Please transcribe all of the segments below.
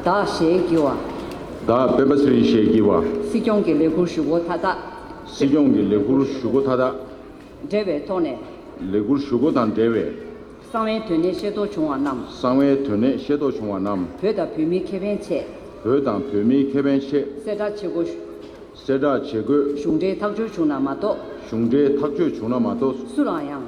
བདག་ཞེས་བགྱི་བ། བདག་དཔལ་པ་ཚུལ་ཞེས་བགྱི་བ། སྲིད་སྐྱོང་གི་ལས་ཁུར་ཞུ་སྒོ་མཐའ་དག། སྲིད་སྐྱོང་གི་ལས་ཁུར་ཞུ་སྒོ་མཐའ་དག། འབྲེལ་བའི་ཐོག་ནས། ལས་ཁུར་ཞུ་སྒོ་དང་འབྲེལ་བའི། གསང་བའི་དོན་གནད་ཤེས་རྟོགས་བྱུང་བ་རྣམས། གསང་བའི་དོན་གནད་ཤེས་རྟོགས་བྱུང་བ་རྣམས། བོད་དང་བོད་མིའི་ཁེ་ཕན་ཆེད། བོད་དང་བོད་མིའི་ཁེ་ཕན་ཆེད། གསལ་བསྒྲགས་བྱེད་དགོས། གསལ་བསྒྲགས་བྱེད་དགོས། གཞུང་འབྲེལ་ཐག་གཅོད་བྱུང་ན་མ་གཏོགས། གཞུང་འབྲེལ་ཐག་གཅོད་བྱུང་ན་མ་གཏོགས། སུ་ལའང་ཡང།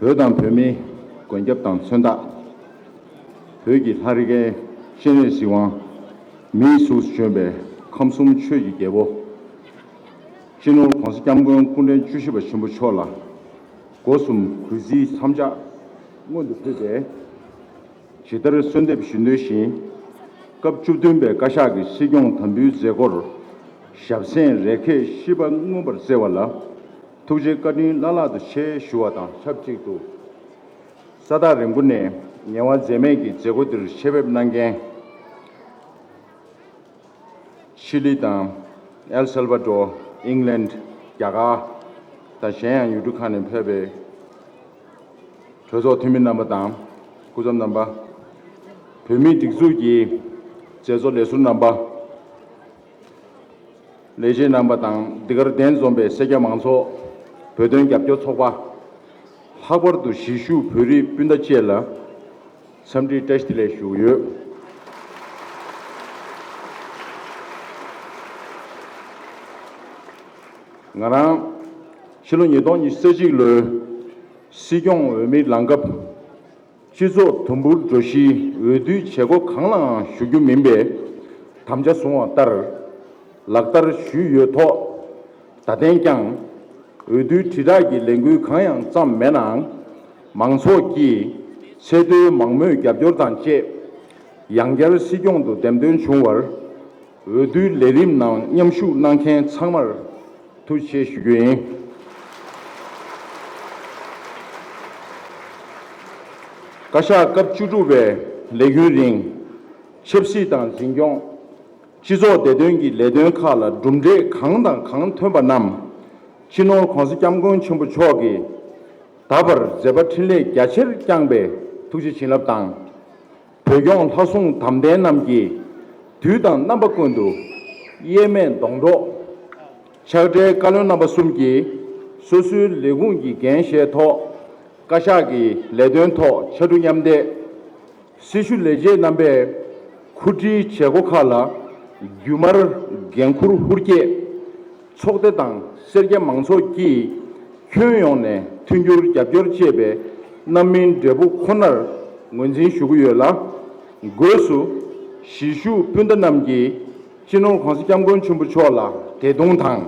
བོད་དང་བོད་མིའི་མགོན་སྐྱབས་དང་མཚོན་རྟགས། བོད་ཀྱི་ལྷ་རི་རྒན་གཤེན་རིགས་གཟིགས་དབང། མིའི་གཟུགས་སུ་བྱོན་པའི་ཁམས་གསུམ་ཆོས་ཀྱི་རྒྱལ་པོ། སྤྱི་ནོར ྋགོང་ས ྋསྐྱབས་མགོན་སྐུ་འཕྲེང་བཅུ་བཞི་པ་ཆེན་པོ་མཆོག་ལ་སྒོ་གསུམ་གུས་བརྩི་མཚམས་ཆ་མངོན་དུ་ཕུལ་ཏེ། ཇི་ལྟར་གསོལ་འདེབས་ཞུ་འདོད་བཞིན། སྐབས་བཅུ་བདུན་པའི་བཀའ་ཤག་གི་སྲིད་སྐྱོང་དམ་འབུལ་མཛད་སྒོར་ཞབས་སེན་རེ་ཁེས་ཤིས་པ་མངོན་པར་བསྩལ་བ་ལ། ཐུགས་རྗེ་བཀའ་དྲིན་བླ་ལྷག་ཏུ་ཆེ་ཞུ་བ་དང་ཆབས་ཅིག་ཏུ། ས་ཐག་རིང་པོ་ནས་ངལ་བ་འཛེམས་མེད་ཀྱིས་མཛད་སྒོ་འདིར་ཆེད་ཕེབས་གནང་མཁན། ཤི་ལི་དང། ཨེལ་སེལ་བཱ་ཏོ། ཨིང་ལན། རྒྱ་གར། དང་གཞན་ཡང་ཡུལ་གྲུ་ཁག་ནས་ཕེབས་པའི་གྲོས་ཚོགས་འཐུས་མི་རྣམ་པ་དང་སྐུ་ཚབ་རྣམ་པ། བོད་མིའི་སྒྲིག་འཛུགས་ཀྱི་མཛད་གཙོ་ལས་ཟུར་རྣམ་པ། ལས་བྱེད་རྣམ་པ་དང་འདི་གར་གདན་འཛོམས་པའི་སེར་སྐྱ་མང་ཚོགས། བོད་དོན་རྒྱབ་སྐྱོར་ཚོགས་པ། ལྷག་པར་དུ་གཞིས་བཞུགས་བོད་རིགས་སྤུན་ཟླ་བཅས་ལ་འཚམས་འདྲིའི་བཀྲ་ཤིས་ལན་ཞུ་ཡོད། ང་རང་ཕྱི་ལོ་ཉིས་སྟོང་ཉི་ཤུ་རྩ་གཅིག་ལོའི་སྲིད་སྐྱོང་འོས་མིར་ལངས་སྐབས། སྤྱི་ཚོགས་དུམ་བུར་འགྲོ་གཞིའི་འོས་བསྡུའི་བྱེད་སྒོ་གང་ལའང་ཞུགས་རྒྱུ་མིན་པའི་དམ་བཅའ་བཟུང་བ་ལྟར་ལག་བསྟར་ཞུས་ཡོད་ཐོག་ད་ཐེངས་ཀྱང་འོས་བསྡུའི་དྲིལ་བསྒྲགས་ཀྱི་ལས་འགུལ་གང་ཡང་བརྩམས་མེད་ནའང། མང་ཚོགས་ཀྱིས་ཚད་མཐོའི་མང་མོས་རྒྱབ་སྐྱོར་དང་བཅས་ཡང་བསྐྱར་སྲིད་སྐྱོང་དུ་འདེམས་ཐོན་བྱུང་བར། འོས་བསྡུའི་ལས་རིམ་ནང་མཉམ་ཞུགས་གནང་མཁན་ཚང་མར་ཐུགས་ཆེ་ཞུ་རྒྱུ་ཡིན། བཀའ་ཤག་སྐབས་བཅུ་དྲུག་པའི་ལས་རྒྱུན་རིང། ཆབ་སྲིད་དང་འཛིན་སྐྱོང། སྤྱི་ཚོགས་བདེ་དོན་གྱི་ལས་དོན་ཁག་ལ་གྲུབ་འབྲས་གང་དང་གང་ཐོན་པ་རྣམས་སྤྱི་ནོར ྋགོང་ས ྋསྐྱབས་མགོན་ཆེན་པོ་མཆོག་གིས་ད་བར་མཛད་པ་འཕྲིན་ལས་རྒྱ་ཆེར་བསྐྱངས་པས་ཐུགས་རྗེ་བྱིན་རླབས་དང། བོད་སྐྱོང་ལྷ་སྲུང་དམ་ལྡན་རྣམས་ཀྱིས། དུས་དང་རྣམ་པ་ཀུན་ཏུ་གཡེལ་མེད་སྡོང་གྲོགས། ཆགས་བྲལ་བཀའ་བློན་རྣམ་པ་གསུམ་གྱིས། སོ་སོའི་ལས་ཁུངས་ཀྱི་འགན་བཞེས་ཐོག། བཀའ་ཤག་གི་ལས་དོན་ཐོག་ཕྱར་གྲུ་མཉམ་འདེགས། སྲི་ཞུ་ལས་བྱེད་རྣམ་པས་ཁུར་ཁྲིའི་བྱེད་སྒོ་ཁག་ལ་རྒྱུན་མར་འགན་འཁུར་ཧུར་བསྐྱེད། ཚོགས་སྡེ་དང་སེར་སྐྱ་མང་ཚོགས་ཀྱིས་ཁྱོན་ཡོངས་ནས་མཐུན་འགྱུར་རྒྱབ་སྐྱོར་བྱེད་པའི་རྣམ་སྨིན་འབྲས་བུ་ཁོ་ནར་ངོས་འཛིན་ཞུ་གི་ཡོད་ལ། སྒོས་སུ། གཞིས་བཞུགས་སྤུན་ཟླ་རྣམས་ཀྱིས་སྤྱི་ནོར ྋགོང་ས ྋསྐྱབས་མགོན་ཆེན་པོ་མཆོག་ལ་དད་གདུང་དང།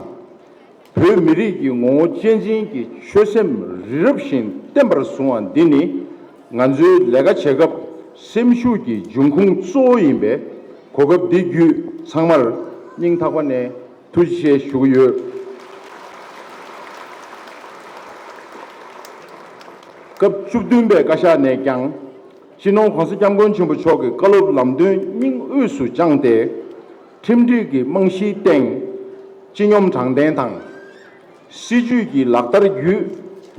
བོད་མི་རིགས་ཀྱི་ངོ་བོ་གཅེས་འཛིན་གྱི་ཆོད་སེམས་རི་རབ་བཞིན་བརྟན་པར་བཟུང་བ་འདི་ནི་ང་ཚོའི་ལས་ཀ་བྱེད་སྐབས་སེམས་ཤུགས་ཀྱི་འབྱུང་ཁུངས་གཙོ་བོ་ཡིན་པས་གོ་སྐབས་འདི་བརྒྱུད་ཚང་མར་སྙིང་ཐག་པ་ནས། ཐུགས་རྗེ་ཆེ་ཞུ་གི་ཡོད། སྐབས་བཅུ་བདུན་པའི་བཀའ་ཤག་ནས་ཀྱང་སྤྱི་ནོར ྋགོང་ས ྋསྐྱབས་མགོན་ཆེན་པོ་མཆོག་གི་བཀའ་སློབ་ལམ་སྟོན་སྙིང་དབུས་སུ་བཅངས་ཏེ། ཁྲིམས་སྒྲིག་གི་རྨང་གཞིའི་སྟེང་སྤྱི་སྙོམས་དྲང་བདེན་དང། སྲིད་ཇུས་ཀྱི་ལག་བསྟར་བརྒྱུད་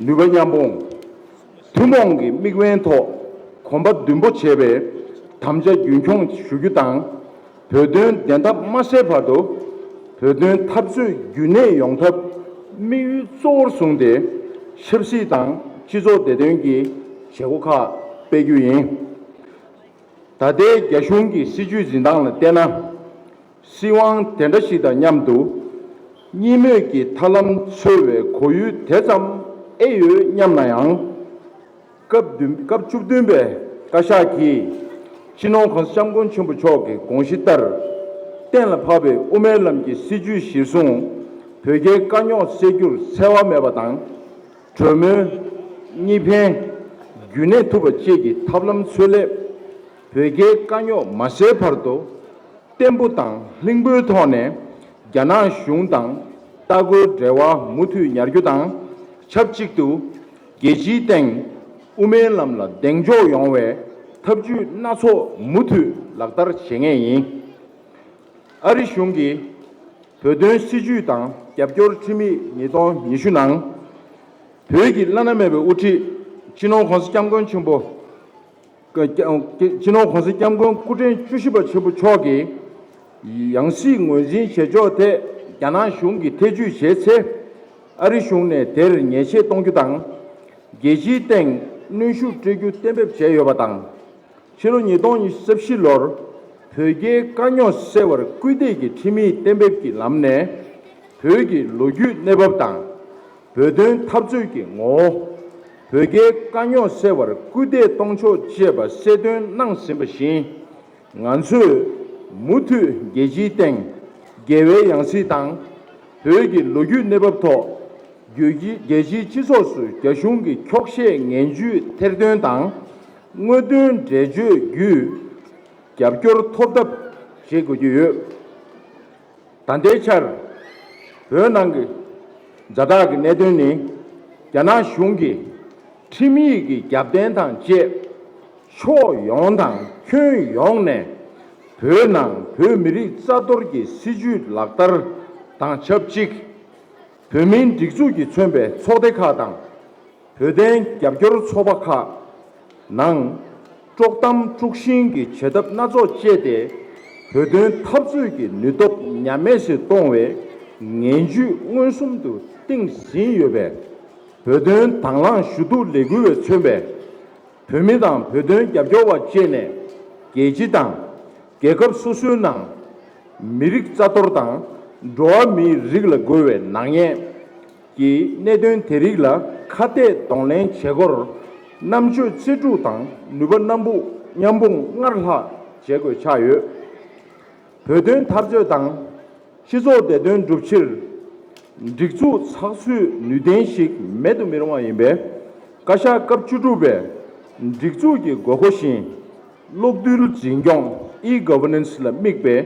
ནུས་པ་མཉམ་སྤུངས། ཐུན་མོང་གི་དམིགས་འབེན་ཐོག་གོམ་པ་མདུན་སྤོ་བྱེད་པའི་དམ་བཅའ་རྒྱུན་འཁྱོངས་ཞུ་རྒྱུ་དང། བོད་དོན་བདེན་མཐའ་མ་གསལ་བར་དུ་བོད་དོན་འཐབ་རྩོད་རྒྱུན་གནས་ཡོང་ཐབས་དམིགས་ཡུལ་གཙོ་བོར་བཟུང་སྟེ་ཆབ་སྲིད་དང་སྤྱི་ཚོགས་བདེ་དོན་གྱི་བྱེད་སྒོ་ཁག་སྤེལ་རྒྱུ་ཡིན། ད་ལྟའི་རྒྱ་གཞུང་གི་སྲིད་བྱུས་འཛིན་སྟངས་ལ་བལྟས་ན། སྲིད་དབང་དེ་འདྲ་ཞིག་དང་མཉམ་དུ་གཉིས་མོས་ཀྱི་ཐར་ལམ་འཚོལ་བའི་གོ་ཡུལ་དེ་ཙམ་ཨེ་ཡོད་སྙམ་ན་ཡང། སྐབས་བཅུ་བདུན་པའི་བཀའ་ཤག་གིས ྋསྤྱི་ནོར ྋསྐྱབས་མགོན་ཆེན་པོ་མཆོག་གི་དགོངས་གཞི་ལྟར། གཏན་ལ་ཕབ་པའི་དབུ་མའི་ལམ་གྱི་སྲིད་བྱུས་གཞིར་བཟུང། བོད་རྒྱའི་དཀའ་རྙོག་སེལ་རྒྱུར་འཚེ་བ་མེད་པ་དང། གྲོས་མོལ། གཉིས་ཕན། རྒྱུན་གནས་ཐུབ་པ་བཅས་ཀྱི་ཐབས་ལམ་འཚོལ་སླད། བོད་རྒྱའི་དཀའ་རྙོག་མ་སེལ་བར་དུ། བརྟན་པོ་དང་ལྷིང་པོའི་ཐོག་ནས་རྒྱ་ནག་གཞུང་དང་ལྟ་སྐུལ་འབྲེལ་བ་མུ་མཐུད་ཉར་རྒྱུ་དང་ཆབས་ཅིག་ཏུ། རྒྱལ་སྤྱིའི་སྟེང་དབུ་མའི་ལམ་ལ་གདེང་འཇོག་ཡོང་བའི་ཐབས་ཇུས་སྣ་ཚོགས་མུ་མཐུད་ལག་བསྟར་བྱེད་ངེས་ཡིན། ཨ་རི་གཞུང་གིས་བོད་དོན་སྲིད་བྱུས་དང་རྒྱབ་སྐྱོར་ཁྲིམས་ཡིག་ཉིས་སྟོང་ཉི་ཤུ་ནང། བོད་ཀྱི་བླ་ན་མེད་པའི་དབུ་ཁྲིད་སྤྱི་ནོར ྋགོང་ས ྋསྐྱབས་མགོན་ཆེན་པོ་སྤྱི་ནོར་གོང་ས་སྐྱབས་མགོན་སྐུ་ཕྲེང་བཅུ་བཞི་པ་ཆེན་པོ་མཆོག་གིས་ཡང་སྲིད་ངོས་འཛིན་བྱེད་ཕྱོགས་ཐད་རྒྱ་ནག་གཞུང་གིས་ཐེ་བྱུས་བྱས་ཚེ། ཨ་རི་གཞུང་ནས་དེར་ཉེས་ཆད་གཏོང་རྒྱུ་དང། རྒྱལ་སྤྱིའི་སྟེང་གནོན་ཤུགས་སྤྲོད་རྒྱུ་གཏན་འབེབས་བྱས་ཡོད་པ་དང། ཕྱི་ལོ་ཉིས་སྟོང་ཉི་ཤུ་བཞི་ལོར་བོད་རྒྱའི་དཀའ་རྙོག་སེལ་བར་སྐུལ་འདེད་ཀྱི་ཁྲིམས་ཡིག་གཏན་འབེབས་ཀྱི་ལམ་ནས་བོད་ཀྱི་ལོ་རྒྱུས་གནས་བབ་དང། བོད་དོན་འཐབ་རྩོད་ཀྱི་ངོ་བོ། བོད་རྒྱའི་དཀའ་རྙོག་སེལ་བར་སྐུལ་འདེད་གཏོང་ཕྱོགས་བཅས་པ་གསལ་སྟོན་གནང་ཟིན་པ་བཞིན། ང་ཚོས་མུ་མཐུད་རྒྱལ་སྤྱིའི་སྟེང་རྒྱལ་བའི་ཡང་སྲིད་དང། བོད་ཀྱི་ལོ་རྒྱུས་གནས་བབ་ཐོག་རྒྱལ་སྤྱིའི་སྤྱི་ཚོགས་སུ་རྒྱ་གཞུང་གི་འཁྱོག་བཤད་ངན་བྱུས་ཐེར་འདོན་དང། དངོས་དོན་འགྲེལ་བརྗོད་བརྒྱུད་རྒྱབ་སྐྱོར་ཐོབ་ཐབས་བྱེད་དགོས་ཀྱི་ཡོད། ད་ལྟའི་ཆར་བོད་ནང་གི་མཛའ་དག་གི་གནད་དོན་ནི་རྒྱ་ནག་གཞུང་གིས་ཁྲིམས་ཡིག་གི་རྒྱབ་རྟེན་དང་བཅས་ཕྱོགས་ཡོངས་དང་ཁྱོན་ཡོངས་ནས་བོད་ནང་བོད་མི་རིགས་རྩ་གཏོར་གྱི་སྲིད་ཇུས་ལག་བསྟར་དང་ཆབས་ཅིག་བོད་མིའི་སྒྲིག་འཛུགས་ཀྱིས་མཚོན་པའི་ཚོགས་སྡེ་ཁག་དང། བོད་དོན་རྒྱབ་སྐྱོར་ཚོགས་པ་ཁག་ནང་དཀྲོག་གཏམ་དཀྲུག་ཤིང་གི་བྱེད་ཐབས་སྣ་ཚོགས་སྤྱད་དེ་བོད་དོན་འཐབ་རྩོད་ཀྱི་ནུས་སྟོབས་ཉམས་དམས་སུ་གཏོང་བའི་ངན་ཇུས་མངོན་སུམ་དུ་བཏིང་ཟིན་ཡོད་པས། བོད་དོན་དྭང་བླངས་ཞུ་གཏུག་ལས་འགུལ་བས་མཚོན་པའི་བོད་མི་དང་བོད་དོན་རྒྱབ་སྐྱོར་བ་བཅས་ནས་རྒྱལ་སྤྱི་དང་རྒྱལ་ཁབ་སོ་སོའི་ནང་མི་རིགས་རྩ་གཏོར་དང་འགྲོ་བ་མིའི་རིགས་ལ་རྒོལ་བའི་ནག་ཉེས། ཀྱི་གནད་དོན་དེ་རིགས་ལ་ཁ་གཏད་གདོང་ལེན་བྱེད་སྒོར་རྣམ་དཔྱོད་རྩལ་སྤྲུགས་དང་ནུས་པ་སྣ་འབུག་མཉམ་སྤུངས་སྔར་ལྷག་བྱེད་དགོས་ཆགས་ཡོད། བོད་དོན་འཐབ་རྩོད་དང་སྤྱི་ཚོགས་བདེ་དོན་བསྒྲུབ་ཕྱིར། སྒྲིག་འཛུགས་ཚགས་ཚུད་ནུས་ལྡན་ཞིག་མེད་དུ་མི་རུང་བ་ཡིན་པས། བཀའ་ཤག་སྐབས་བཅུ་དྲུག་པས་སྒྲིག་འཛུགས་ཀྱི་དགོས་མཁོ་བཞིན། གློག་རྡུལ་འཛིན་སྐྱོང E-Governance ལ་དམིགས་པའི་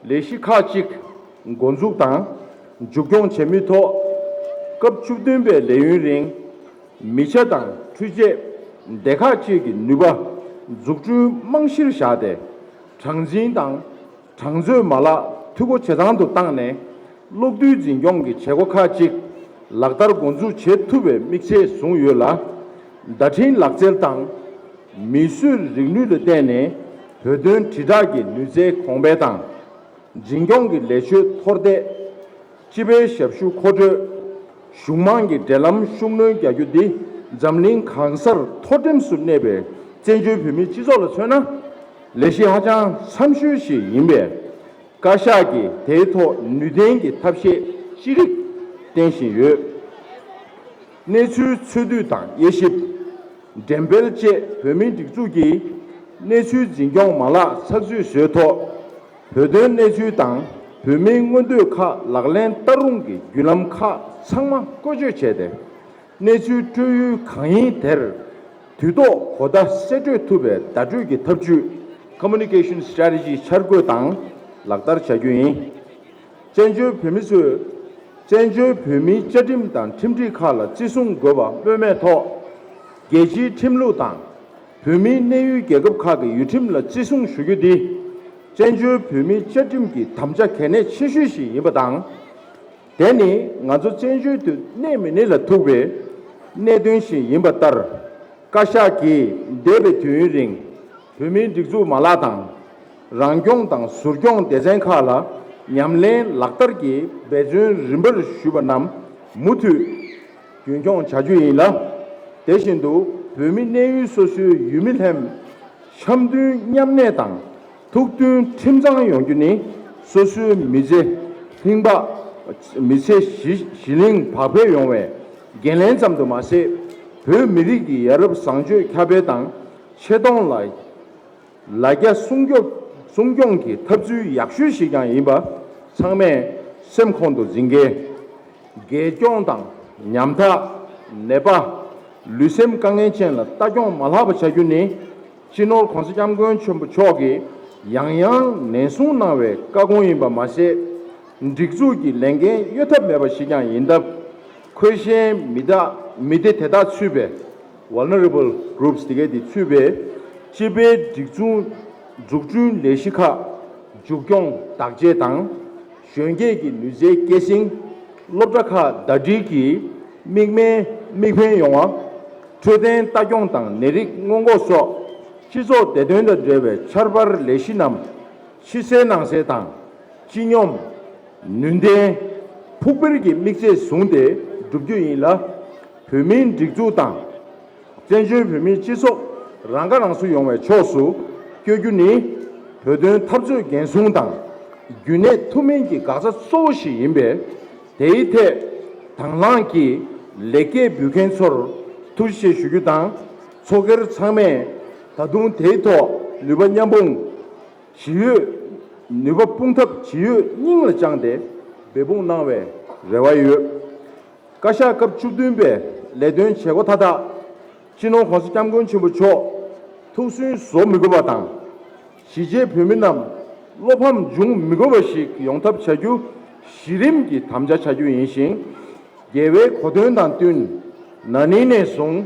ལས་གཞི་ཁག་གཅིག། འགོ་འཛུགས་དང་མཇུག་སྐྱོང་བྱེད་མུས་ཐོག་སྐབས་བཅུ་བདུན་པའི་ལས་ཡུན་རིང། མི་ཆ་དང་འཕྲུལ་ཆས་སྡེ་ཁག་བཅས་ཀྱི་ནུས་པ་འཛུགས་སྐྲུན་རྨང་གཞིར་བཞག་སྟེ། གྲངས་འཛིན་དང་གྲངས་མཛོད་མ་ལག་འཐུས་སྒོ་ཇེ་ཚང་དུ་བཏང་ནས། གློག་རྡུལ་འཛིན་སྐྱོང་གི་བྱེད་སྒོ་ཁག་གཅིག་ལག་བསྟར་འགོ་འཛུགས་བྱེད་ཐུབ་པའི་དམིགས་ཚད་བཟུང་ཡོད་ལ། བརྡ་འཕྲིན་ལག་རྩལ་དང་མིས་བཟོས་རིག་ནུས་ལ་བརྟེན་ནས་བོད་དོན་དྲིལ་བསྒྲགས་ཀྱི་ནུས་རྩལ་གོང་འཕེལ་དང། འཛིན་སྐྱོང་གི་ལས་ཆོད་མཐོར་འདེགས། སྤྱི་པའི་ཞབས་ཞུ་མཁོ་སྤྲོད། གཞུང་དམངས་ཀྱི་འབྲེལ་ལམ་ཤུགས་སྣོན་རྒྱག་རྒྱུ་འདི་འཛམ་གླིང་གང་སར་མཐོ་འགྲེམས་སུ་གནས་པའི་བཙན་བྱོལ་བོད་མིའི་སྤྱི་ཚོགས་ལ་མཚོན་ན་ལས་གཞི་ཧ་ཅང་འཚམ་ཤོས་ཤིག་ཡིན་པས། བཀའ་ཤག་གིས་དེའི་ཐོག་ནུས་ལྡན་གྱི་ཐབས་ཤེས་ཅི་རིགས་བསྟེན་བཞིན་ཡོད། གནས་ཚུལ་འཚོལ་སྡུད་དང་དབྱེ་ཞིབ། འགྲེམས་སྤེལ་བཅས་བོད་མིའི་སྒྲིག་འཛུགས་ཀྱིས་གནས་ཚུལ་འཛིན་སྐྱོང་མ་ལག་ཚགས་ཚུད་བཟོས་ཐོག། བོད་དོན་གནས་ཚུལ་དང་བོད་མིའི་མངོན་འདོད་ཁག་ལག་ལེན་བསྟར་རུང་གི་བརྒྱུད་ལམ་ཁག་ཚང་མ་བཀོལ་སྤྱོད་བྱས་ཏེ། གནས་ཚུལ་སྤྲོད་ཡུལ་གང་ཡིན་དེར་དུས་ཐོག་གོ་བརྡ་གསལ་སྤྲོད་ཐུབ་པའི་བརྡ་སྤྲོད་ཀྱི་ཐབས་ཇུས། Communication Strategy། འཆར་འགོད་དང་ལག་བསྟར་བྱ་རྒྱུ་ཡིན། བཙན་བྱོལ་བོད་མི་ཚོས་བཙན་བྱོལ་བོད་མིའི་བཅའ་ཁྲིམས་དང་ཁྲིམས་སྒྲིག་ཁག་ལ་བརྩི་སྲུང་དགོས་པ་སྨོས་མེད་ཐོག་རྒྱལ་སྤྱིའི་ཁྲིམས་ལུགས་དང། བོད་མིའི་གནས་ཡུལ་རྒྱལ་ཁབ་ཁག་གི་ཡུལ་ཁྲིམས་ལ་བརྩི་སྲུང་ཞུ་རྒྱུ་དེ། བཙན་བྱོལ་བོད་མིའི་བཅའ་ཁྲིམས་ཀྱི་དམ་བཅའ་གལ་གནད་ཆེ་ཤོས་ཤིག་ཡིན་པ་དང། དེ་ནི་ང་ཚོ་བཙན་བྱོལ་དུ་གནས་མི་གནས་ལ་ཐུག་པའི་གནད་དོན་ཞིག་ཡིན་པ་ལྟར། བཀའ་ཤག་གིས་འདས་པའི་དུས་ཡུན་རིང་བོད་མིའི་སྒྲིག་འཛུགས་མ་ལག་དང། རང་སྐྱོང་དང་ཟུར་སྐྱོང་སྡེ་ཚན་ཁག་ལ་ཉམས་ལེན་ལག་བསྟར་གྱི་འབད་བརྩོན་རིམ་པར་ཞུས་པ་རྣམས་མུ་མཐུད་རྒྱུན་འཁྱོངས་བྱ་རྒྱུ་ཡིན་ལ། དེ་བཞིན་དུ་བོད་མི་གནས་ཡུལ་སོ་སོའི་ཡུལ་མི་ལྷན། འཆམ་མཐུན་མཉམ་གནས་དང་ཐུགས་མཐུན་ཁྲིམས་གཙང་ཡོང་རྒྱུ་ནི་སོ་སོའི་མི་ཚེ། ལྷིང་འབའ། མི་ཚེ་གཞི་ལྷིང་བག་འཕེལ་ཡོང་བའི་འགན་ལེན་ཙམ་དུ་མ་ཟད། བོད་མི་རིགས་ཀྱི་ཡ་རབས་བཟང་སྤྱོད་ཁྱབ་སྤེལ་དང་ཆེ་མཐོང་ལ། ལ་རྒྱ་སྲུང་སྐྱོབ་སྲུང་སྐྱོང་གི་ཐབས་ཚུལ་ཡག་ཤོས་ཤིག་ཀྱང་ཡིན་པ་ཚང་མས་སེམས་ཁོང་དུ་འཛིན་གལ། རྒྱལ་སྐྱོང་དང་ཉམ་ཐག་ནད་པ། ལུས་སེམས་དཀའ་ངལ་ཅན་ལ་ལྟ་སྐྱོང་མ་ལྷག་པ་བྱ་རྒྱུ་ནི་སྤྱི་ནོར་གོང་ས་སྐྱབས་མགོན་ཆེན་པོ་མཆོག་གིས་ཡང་ཡང་ནན་གསུངས་གནང་བའི་བཀའ་དགོངས་ཡིན་པ་མ་ཟད། སྒྲིག་འཛུགས་ཀྱི་ལས་འགན་གཡོལ་ཐབས་མེད་པ་ཞིག་ཀྱང་ཡིན་སྟབས། འཁོས་ཞན་མི་དེ་དག་ཚུད་པའི། Vulnerable Groups། དེ་གའི་དེ་ཚུད་པའི་སྤྱི་པའི་སྒྲིག་མཚུངས་འཛུགས་སྐྲུན་ལས་གཞི་ཁག་མཇུག་སྐྱོང་བདག་གཅེས་དང། གཞོན་སྐྱེས་ཀྱི་ནུས་རྩལ་སྐྱེད་སྲིང། སློབ་གྲྭ་ཁག་ཟླ་སྒྲིལ་གྱིས་མིག་སྨན་མིག་འཕེན་ཡོང་བ། འཕྲོད་བསྟེན་ལྟ་སྐྱོང་དང་ནད་རིགས་སྔོན་འགོག་སོགས་སྤྱི་ཚོགས་བདེ་དོན་དང་འབྲེལ་བའི་འཆར་འཕར་ལས་གཞི་རྣམས་ཕྱི་གསལ་ནང་གསལ་དང། སྤྱི་སྙོམས། ནུས་ལྡན། ཕུགས་འཕེར་གྱི་དམིགས་ཚད་བཟུང་སྟེ་བསྒྲུབ་རྒྱུ་ཡིན་ལ། བོད་མིའི་སྒྲིག་འཛུགས་དང། བཙན་བྱོལ་བོད་མིའི་སྤྱི་ཚོགས་རང་ཁ་རང་གསོ་ཡོང་བའི་ཕྱོགས་སུ་བསྐྱོད་རྒྱུ་ནི། བོད་དོན་འཐབ་རྩོད་འགན་སྲུང་དང་རྒྱུན་གནས་ཐུབ་མིན་གྱི་འགག་རྩ་གཙོ་བོ་ཞིག་ཡིན་པས། དེའི་ཐད་དང་བླངས་ཀྱིས་ལེགས་སྐྱེས་འབུལ་མཁན་ཚོར་ཐུགས་རྗེ་ཆེ་ཞུ་རྒྱུ་དང། ཚོགས་སྒེར་ཚང་མས་ད་དུང་དེའི་ཐོག་ནུས་པ་མཉམ་སྤུངས་ཇི་ཡོད། ནུས་པ་སྤུངས་ཐབས་ཇི་ཡོད་སྙིང་ལ་བཅངས་ཏེ་འབད་འབུངས་གནང་བའི་རེ་བ་ཡོད། བཀའ་ཤག་སྐབས་བཅུ་བདུན་པས་ལས་དོན་བྱེད་སྒོ་མཐའ་དག་སྤྱི་ནོར ྋགོང་ས ྋསྐྱབས་མགོན་ཆེན་པོ་མཆོག་ཐུགས་སུན་བཟོ་མི་དགོས་པ་དང། གཞིས་བྱེས་བོད་མི་རྣམས་བློ་ཕམ་འབྱུང་མི་དགོས་པ་ཞིག་ཡོང་ཐབས་བྱ་རྒྱུ་གཞི་རིམ་གྱི་དམ་བཅའ་བྱ་རྒྱུ་ཡིན་ཞིང། རྒྱལ་བའི་གོ་དོན་དང་བསྟུན་ན་ནིང་ནས་བཟུང་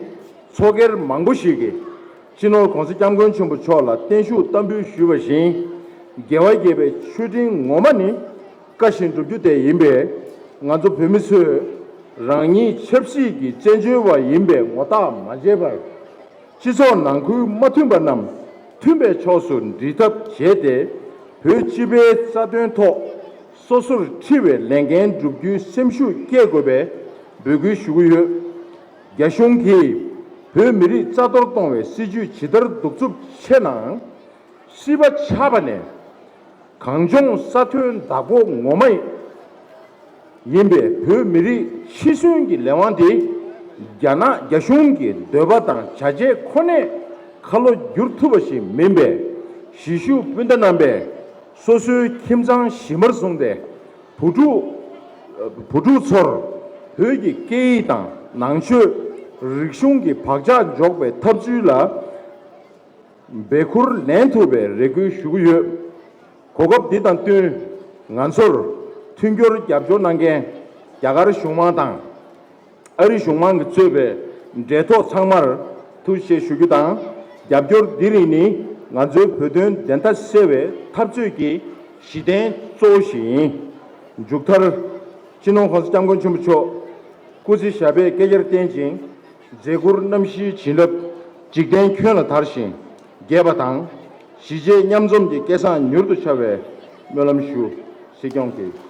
ཚོགས་སྒེར་མང་པོ་ཞིག་གིས་སྤྱི་ནོར ྋགོང་ས ྋསྐྱབས་མགོན་ཆེན་པོ་མཆོག་ལ་བརྟན་བཞུགས་བསྟར་འབུལ་ཞུས་པ་བཞིན་རྒྱལ་བ་དགྱེས་པའི་མཆོད་སྤྲིན་ངོ་མ་ནི། བཀའ་བཞིན་བསྒྲུབ་རྒྱུ་དེ་ཡིན་པས་ང་ཚོ་བོད་མི་ཚོས་རང་ཉིད་ཆབ་སྲིད་ཀྱི་བཙན་བྱོལ་བ་ཡིན་པའི་ངོ་རྟགས་མ་བྱས་པར། སྤྱི་ཚོགས་ནང་ཁུལ་མ་མཐུན་པ་རྣམས་མཐུན་པའི་ཕྱོགས་སུ་འབྲི་ཐབས་བྱས་ཏེ་བོད་སྤྱི་པའི་རྩ་དོན་ཐོག་སོ་སོར་འཁྲི་བའི་ལས་འགན་བསྒྲུབ་རྒྱུའི་སེམས་ཤུགས་བསྐྱེད་དགོས་པའི་འབོད་སྐུལ་ཞུ་གི་ཡོད། རྒྱ་གཞུང་གིས་བོད་མི་རིགས་རྩ་གཏོར་གཏོང་བའི་སྲིད་ཇུས་ཇི་ལྟར་གདུག་རྩུབ་ཆེ་ནའང། སྲིད་པ་ཆགས་པ་ནས་གངས་ལྗོངས་ས་མཐོའི་བདག་པོ་ངོ་མ་ཡིན་པའི་བོད་མི་རིགས་འཆི་གསོན་གྱི་ལས་དབང་དེ་རྒྱ་ནག་རྒྱ་གཞུང་གི་འདོད་པ་དང་བྱ་བྱེད་ཁོ་ནས་ཁ་ལོ་བསྒྱུར་ཐུབ་པ་ཞིག་མིན་པས་གཞིས་བཞུགས་སྤུན་ཟླ་རྣམ་པས་སོ་སོའི་ཁྱིམ་ཚང་གཞི་མར་བཟུང་སྟེ་བུ་ཕྲུག་ཚོར་བོད་ཀྱི་སྐད་ཡིག་དང་ནང་ཆོས་རིག་གཞུང་གི་བག་ཆགས་འཇོག་པའི་ཐབས་ཚུལ་ལ། འབད་འཁུར་ལེན་ཐུབ་པའི་རེ་སྐུལ་ཞུ་གི་ཡོད། གོ་སྐབས་འདི་དང་བསྟུན་ང་ཚོར་མཐུན་འགྱུར་རྒྱབ་སྐྱོར་གནང་མཁན་རྒྱ་གར་གཞུང་མང་དང་ཨ་རི་གཞུང་མང་གིས་གཙོས་པའི་འབྲེལ་ཐོགས་ཚང་མར་ཐུགས་རྗེ་ཞུ་རྒྱུ་དང་རྒྱབ་སྐྱོར་འདི་རིགས་ནི་ང་ཚོའི་བོད་དོན་བདེན་མཐའ་གསལ་བའི་འཐབ་རྩོད་ཀྱི་གཞི་རྟེན་གཙོ་བོ་ཞིག་ཡིན། མཇུག་མཐར། སྤྱི་ནོར་ཧོན་སི་སྐྱབས་མགོན་ཆེན་པོ་མཆོག་སྐུ་ཚེ་ཞབས་པད་བསྐལ་བརྒྱར་བརྟན་ཅིང། མཛད་ཁུར་རྣམ་བཞིའི་བྱིན་རླབས་འཇིག་རྟེན་ཁྱོན་ལ་དར་ཞིང་རྒྱས་པ་དང། གཞིས་བྱེས་མཉམ་འཛོམས་ཀྱི་སྐལ་བཟང་མྱུར་དུ་འཆར་བའི་སྨོན་ལམ་ཞུ། སྲིད་སྐྱོང་གིས།